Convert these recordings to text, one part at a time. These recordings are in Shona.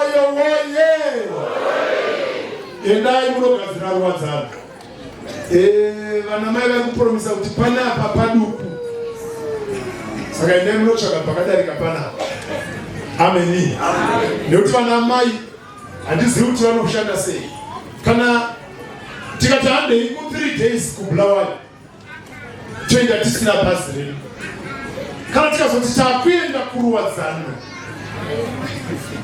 Moyo woye! Endai munogadzira ruwa dzavo. Eh, vana mai vari kupromisa kuti panapa paduku. Saka endai munotsvaga pakadarika panapa. Ameni. Nekuti vana mai handizivi kuti vanoshanda sei. Kana tikati handei ku 3 days kubulawayo toenda tisina bhazi redu kana tikazoti takuenda kuruwadzano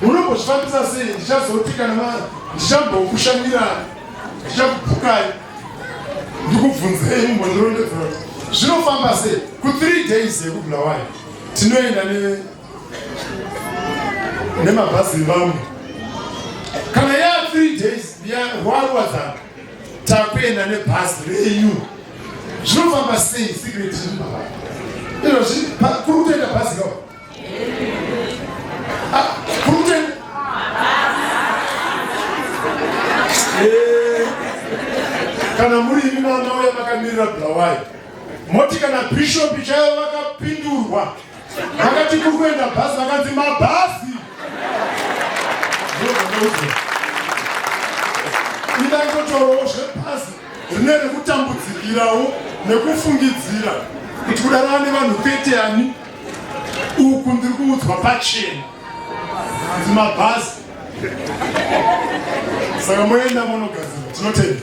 munombozvifambisa sei ndichazoti kana ma ndichambokushandirani ndichakubhukai ndikubvunzei mumbondirondedzera kuti zvinofamba sei kuthree days yekubulawayo tinoenda ne nemabhazi evamwe kana yaa three days yarwaruwadzano takuenda nebhazi renyu zvinofamba sei secret izvozvi kuri kutoenda bhazi ka ah, kuri kutoenda eh, kana muri imi mwana uya makamirira bulawayo moti kana bhishopi chaivo vakapindurwa Vakati kuri kuenda bhazi vakanzi mabhazi. Ida kutotorowo zvebhazi rine rekutambudzikirawo nekufungidzira kuti kudarana nevanhu kwete ani uku ndiri kuudzwa pachena kuti mabhazi saka moenda monogadzira tinotenda